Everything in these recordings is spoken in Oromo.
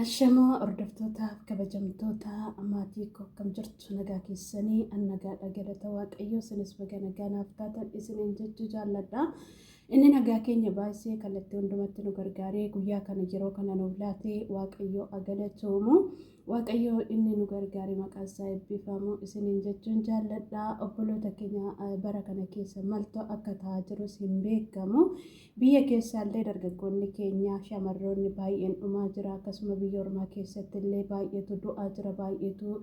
Ashamaa hordoftoota kabajamtoota maatii koo akkam jirtu nagaa keessanii an nagaadha galata waaqayyoo isinis baga nagaa naaf taatan isiniin jechuu jaalladha. Inni nagaa keenya baay'isee kallattii hundumatti nu gargaaree guyyaa kana yeroo kana nuuf laatee waaqayyoo agalatoomu waaqayyoo inni nu gargaare maqaan isaa eebbifamu isiniin jechuun jaalladha. Obboloota keenya bara kana keessa maaltu akka ta'aa jirus hin beekamu. Biyya keessaallee dargaggoonni keenya, shamarroonni baay'een dhumaa jira. Akkasuma biyya ormaa keessattillee baay'eetu du'aa jira, baay'eetu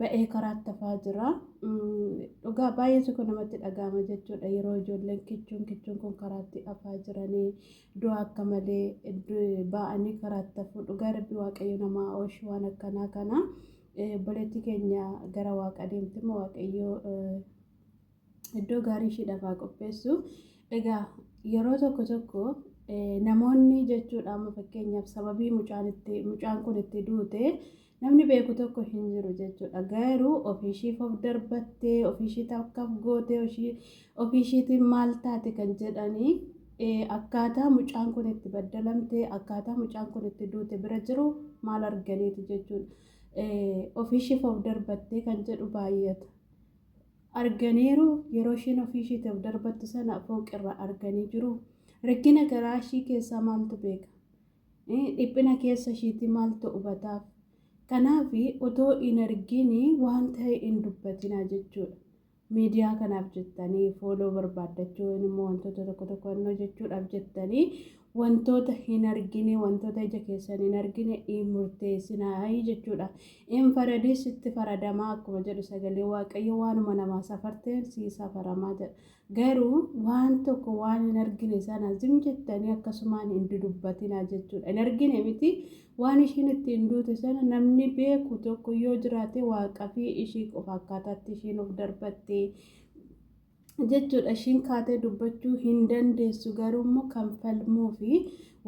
ba'ee karaatti hafaa jira. Dhugaa baay'eetu kun namatti dhaga'ama jechuudha. Yeroo ijoolleen kichuun kichuun kun karaatti hafaa jiranii du'a akka malee ba'anii karaatti hafuu. Dhugaa rabbi waaqayyo namaa ooshi waan akkanaa kana. Obboleetti keenya gara waaqa deemti immoo waaqayyo iddoo gaarii ishiidhaaf haa qopheessu. Egaa yeroo tokko tokko namoonni jechuudha amma fakkeenyaaf sababii mucaan itti mucaan kun itti duute namni beeku tokko hin jiru jechuudha. Garuu ofiishiif of darbattee ofiishii takkaaf gootee ofiishiitiin maal taate kan jedhanii akkaataa mucaan kun itti baddalamte akkaataa mucaan kun itti duute bira jiru maal arganiiti jechuudha. Ofiishiif of darbattee kan jedhu baay'ata. arganiiru. Yeroo isheen ofii ishiitiif darbattu sana fooqirraa arganii jiru. Rakkina garaa ishii keessaa maaltu beeka? Dhiphina keessa ishiitii maaltu hubataaf? Kanaaf otoo hin argin waan ta'e hin dubbatinaa jechuudha. Miidiyaa kanaaf jettanii fooloo barbaaddachuu immoo wantoota tokko tokko hojjechuudhaaf jettanii Wantoota hin argine, wantoota ija keessan hin argine hin murteessinaa jechuudha. Hin faradin sitti faradamaa akkuma jedhu sagalee Waaqayyo waanuma namaa safarteen sii safaramaa jedha. Garuu waan tokko waan hin argine sana zim jettanii akkasumaan hin dudubbatinaa jechuudha. Hin argine miti waan ishiin ittiin duute sana namni beeku tokko yoo jiraate waaqafii ishii qofa akkaataatti ishiin of darbattee jechuudha ishiin kaatee dubbachuu hin dandeessu garuu immoo kan falmuu fi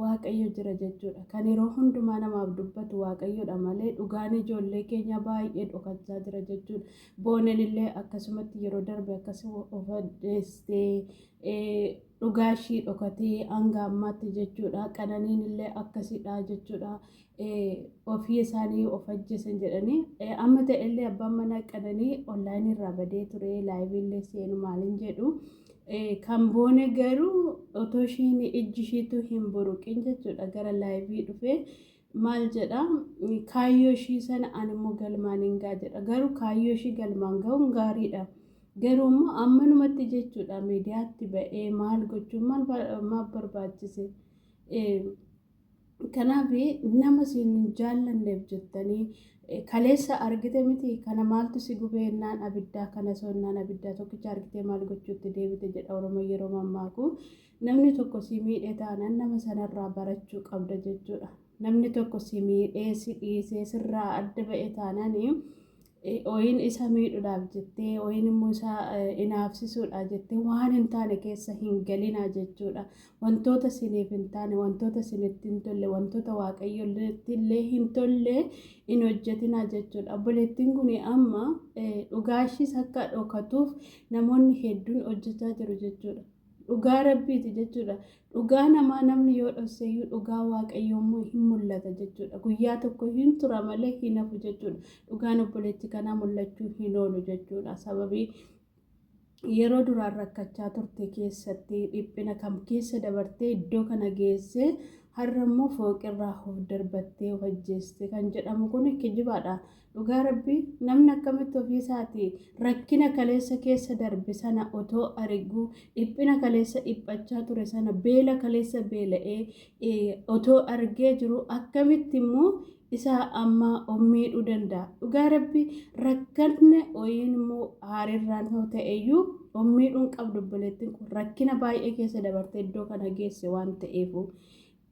waaqayyo jira jechuudha kan yeroo hundumaa namaaf dubbatu waaqayyodha malee dhugaan ijoollee keenya baay'ee dhokachaa jira jechuudha boonen illee akkasumatti yeroo darbe akkas of addeessitee dhugaa ishii dhokatee hanga ammaatti jechuudha qananiin illee akkasidha jechuudha ofii isaanii of ajjeesan jedhanii amma ta'ellee abbaan manaa qananii onlaayinii irraa badee ture laayiviillee seenu maaliin jedhu kan boone garuu otoo ishiin ijji ishiitu hin buruqin jechuudha gara laayivii dhufee maal jedha kaayyoo ishii sana animmoo galmaan hin gaa jedha garuu kaayyoo ishii galmaan ga'uun gaariidha. Garuu immoo ammanumatti jechuudha miidiyaatti ba'ee maal gochuun maal barbaachise. Kanaaf nama siin hin jaallanneef jettanii kaleessa argite miti kana maaltu si gubee ennaan abiddaa kana soo ennaan abiddaa tokkicha argitee maal gochuutti deebite jedha Oromoo yeroo mammaaku namni tokko si miidhee taanaan nama sanarraa barachuu qabda jechuudha. Namni tokko si miidhee si dhiisee sirraa adda ba'e taanaan Yookiin isa miidhuudhaaf jettee yookiin immoo isa inaafsisuudhaaf jettee waan hin taane keessa hin galinaa jechuudha. Wantoota isiniif hin taane, wantoota isinitti hin tolle, wantoota waaqayyotti illee hin tolle hin hojjetinaa jechuudha. Obboleettiin kun amma dhugaashiis akka dhokatuuf namoonni hedduun hojjechaa jiru jechuudha. Dhugaa rabbiiti jechuudha. Dhugaa namaa namni yoo dhosseeyyuu dhugaa waaqayyoo immoo hin mul'ata jechuudha. Guyyaa tokko hin tura malee hin hafu jechuudha. Dhugaan obboleetti kanaa mul'achuu hin oolu jechuudha. Sababii yeroo duraan rakkachaa turte keessatti dhiphina kam keessa dabartee iddoo kana geessee har'a immoo fooqirraa of darbattee of ajjeeste kan jedhamu kun kijibaadha. Dhugaa rabbi namni akkamitti ofii isaati rakkina kaleessa keessa darbe sana otoo ariguu dhiphina kaleessa dhiphachaa ture sana beela kaleessa beela'ee otoo argee jiru akkamitti immoo isaa amma miidhuu danda'a. Dhugaa rabbi rakkanne oyiin immoo haarirraan yoo ta'eyyuu miidhuun qabdu obboleettiin kun rakkina baay'ee keessa dabartee iddoo kana geesse waan ta'eefu.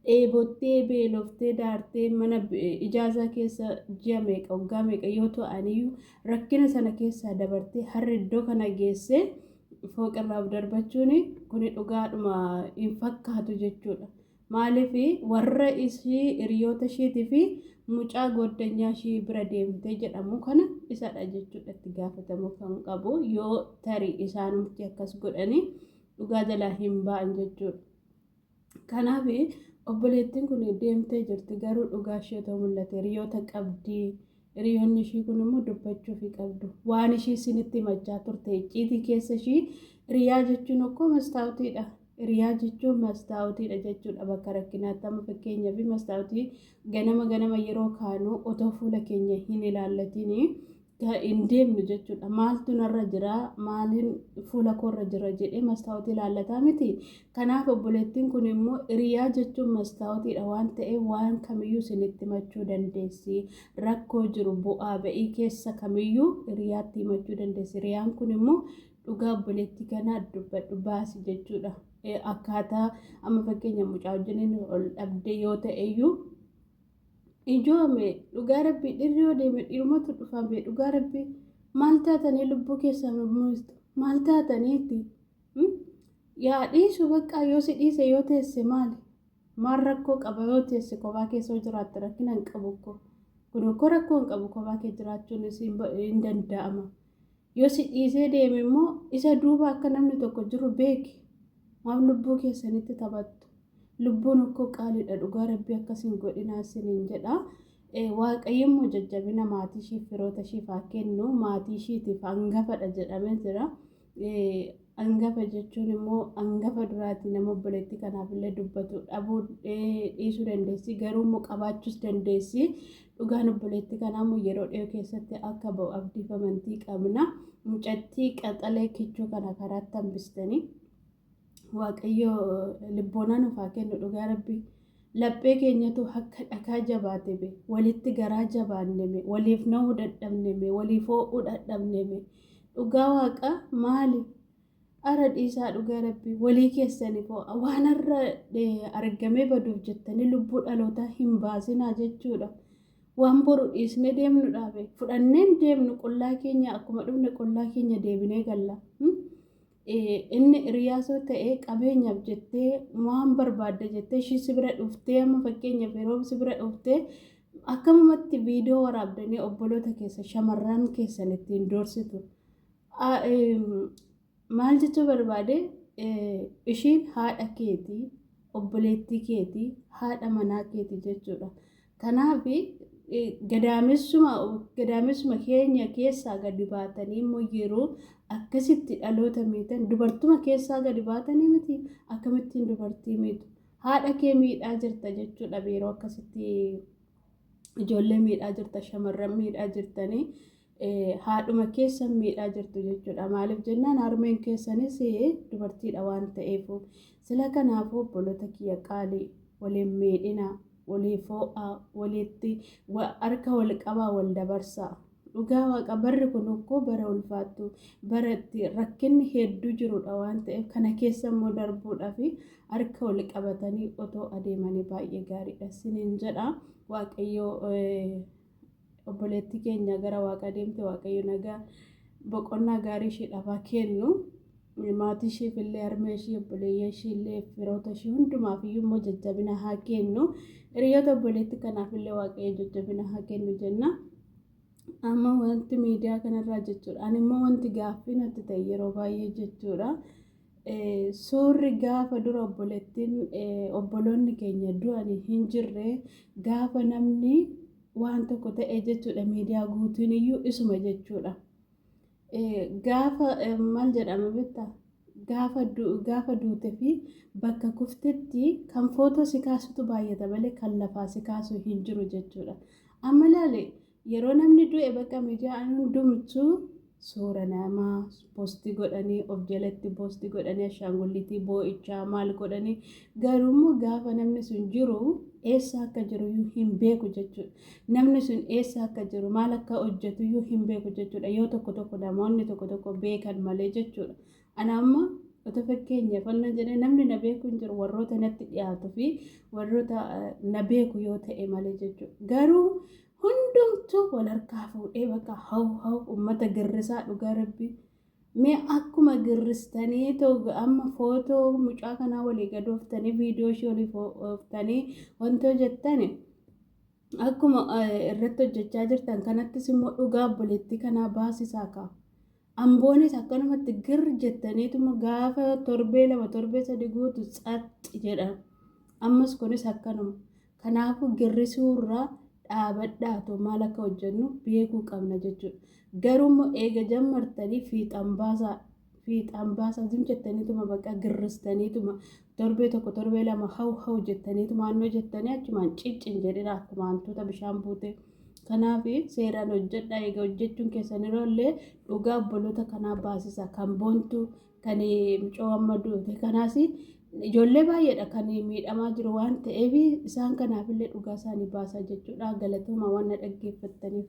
dheebottee beeloftee daartee mana ijaazaa keessa ji'a meeqa waggaa meeqa yoo ta'aniyyuu rakkina sana keessaa dabartee harri iddoo kana geessee fooqirraa darbachuun kuni dhugaadhuma hin fakkaatu jechuudha. Maaliif warra ishii hiriyoota ishiitii fi mucaa goddanyaa ishii bira deemtee jedhamu kana isadha jechuudha itti gaafatamuu kan qabu yoo tarii isaanumti akkas godhanii dhugaa jalaa hin ba'an jechuudha. Kanaaf obboleettiin kun deemtee jirti garuu dhugaa ishee otoo mul'ate hiriyoota qabdi. Hiriyoonni ishii kun immoo dubbachuuf qabdu. Waan ishii isinitti himachaa turte icciitii keessa ishii hiriyaa jechuun okkoo mastaawutiidha. Hiriyaa jechuun mastaawutiidha jechuudha bakka rakkinaatti amma fakkeenyaa fi mastaawutii ganama ganama yeroo kaanu otoo fuula keenya hin ilaallatiin hin deemnu jechuudha. Maaltu narra jira, maaliin fuula koorra jira jedhee mastaawotii ilaallataa miti. Kanaaf obboleettiin kun immoo hiriyaa jechuun mastaawotiidha waan ta'eef waan kamiyyuu isinitti himachuu dandeessi. Rakkoo jiru bu'aa ba'ii keessa kamiyyuu hiriyaatti himachuu dandeessi. Hiriyaan kun immoo dhugaa obboleettii kanaa dubbadhu baasi jechuudha. Akkaataa amma fakkeenya mucaa wajjiniin ol dhabdee yoo ta'eyyuu Ijoome dhugaa rabbii dhirri yoo deeme dhirumatu dhufame dhugaa rabbii maal taatanii lubbuu keessan muistu maal taataniiti yaa dhiisu baqqaa yoo si dhiise yoo teesse maali maal rakkoo qaba yoo teesse kophaa keessa yoo jiraatte rakkina hin qabu ko kun ko rakkoo hin qabu kophaa kee jiraachuun hin danda'ama Yoo si dhiisee deeme immoo isa duuba akka namni tokko jiru beeki. Maaf lubbuu keessanitti taphattu? Lubbuun okkoo qaaliidha dhugaa rabbii akkas hin godhinaa isiniin jedha. Waaqayyo immoo jajjabina maatii ishiif firoota ishiif haa kennu. Maatii ishiitiif hangafadha jedhamee jira. Angafa jechuun immoo angafa duraati nama obboleettii kanaaf illee dubbatu dhabuu dhiisuu dandeessi garuu immoo qabaachuus dandeessi dhugaan obboleettii kanaa immoo yeroo dhiyoo keessatti akka ba'u abdiif amantii qabna mucattii qaxalee kichuu kana karaatti hambistanii waaqayyo libboonaa nuuf haa kennu dhugaa rabbii. Laphee keenyatu akka dhakaa jabaateme, walitti garaa jabaanneme, waliif na'uu dadhabneme, waliif hoo'uu dadhabneme. Dhugaa Waaqaa maali? Ara dhiisaa dhugaa Rabbii walii keessaniif hoo'a. Waan har'a argamee baduuf jettanii lubbuu dhalootaa hin baasinaa jechuudha. Waan boru dhiisnee deemnu dhaabe. Fudhanneen deemnu qullaa keenya akkuma dhufne qullaa keenya deebinee galla. Inni hiriyaa soo ta'e qabeenyaaf jettee waan barbaadde jettee ishii si bira dhuftee amma fakkeenyaaf yeroo si bira dhuftee akkamumatti viidiyoo waraabdanii obboloota keessa shamarran keessan ittiin doorsitu. Maal jechuu barbaade ishiin haadha keetii obboleettii keetii haadha manaa keetii jechuudha. Kanaaf gadaamessuma gadaamessuma keenya keessaa gadi baatanii immoo yeroo akkasitti dhaloota miidhan dubartuma keessaa gadi baatanii miti akkamittiin dubartii miidhu haadha kee miidhaa jirta jechuudha yeroo akkasitti ijoollee miidhaa jirta shamarran miidhaa jirtanii haadhuma keessan miidhaa jirtu jechuudha. Maaliif jennaan harmeen keessanis dubartiidha waan ta'eef. Sila kanaafuu obboloota kiyya qaalii waliin miidhina, walii foo'aa, walitti harka wal qabaa wal dabarsaa. Dhugaa waaqa barri kun okkoo bara ulfaattu bara itti rakkinni hedduu jirudha waan ta'eef kana keessa immoo darbuudhaaf harka wal qabatanii otoo adeemanii baay'ee gaariidha siniin jedha waaqayyoo Obboleettii keenya gara waaqaa deemte Waaqayyo nagaa boqonnaa gaarii ishiidhaaf haa kennu. Maatii ishiif illee harmee ishii obboleeyyan ishii illee firoota ishii hundumaaf iyyuu immoo jajjabina haa kennu. Hiriyoota obboleettii kanaaf illee Waaqayyo jajjabina haa kennu jenna. Amma wanti miidiyaa kanarraa jechuudha. Ani immoo wanti gaaffii natti ta'e yeroo baay'ee jechuudha. Suurri gaafa dura obboleettiin obboloonni keenya du'anii hin jirre gaafa namni waan tokko ta'e jechuudha miidiyaa guutuun iyyuu isuma jechuudha. Gaafa maal jedhama bitta gaafa duute fi bakka kuftetti kan footoo si kaasutu baay'ata malee kan lafaa si kaasu hin jiru jechuudha. Amma laale yeroo namni du'e bakka miidiyaa hundumtuu suura namaa posti godhanii of jalatti posti godhanii ashaangullitii boo'ichaa maal godhanii garuummoo gaafa namni sun jiru eessa akka jiru iyyuu hin beeku jechuudha. Namni sun eessa akka jiru maal akka hojjetu iyyuu hin beeku jechuudha. Yoo tokko tokko namoonni tokko tokko beekan malee jechuudha. Ana amma otoo fakkeenyaaf annan jedhee namni na beeku hin jiru warroota natti dhiyaatu fi warroota na beeku yoo ta'e malee jechuudha. Garuu hundumtuu wal harkaa fuudhee bakka haw haw ummata girrisaa dhugaa rabbii mee akkuma girristanii too amma footoo mucaa kanaa walii gadooftanii viidiyoo ishee olii fooftanii wantoo jettani akkuma irratti hojjechaa jirtan kanattis immoo dhugaa obboleettii kanaa baasisaa kaa Amboonis akkanumatti gir jettaniituma gaafa torbee lama torbee sadi guutu tsatsi jedha. Ammas kunis akkanuma. Kanaafuu girrisuurraa dhaabadhaatu maal akka hojjennu beekuu qabna jechuudha. Garuu immoo eega jammartanii fiixaan baasaa fiixaan baasaa zim jettaniituma baqa girristaniituma Torbee tokko torbee lama haw haw jettaniitu maannoo jettanii achumaan ciccin jedhina akkuma hantuuta bishaan buute. Kanaaf seeraan hojjedha egaa hojjechuun keessan yeroo illee dhugaa obboloota kanaa baasisa kan boontu kan mucoo amma duute kanaas ijoollee baay'eedha kan miidhamaa jiru waan ta'eef isaan kanaaf illee dhugaa isaanii baasaa jechuudha galatooma waan na dhaggeeffattaniif.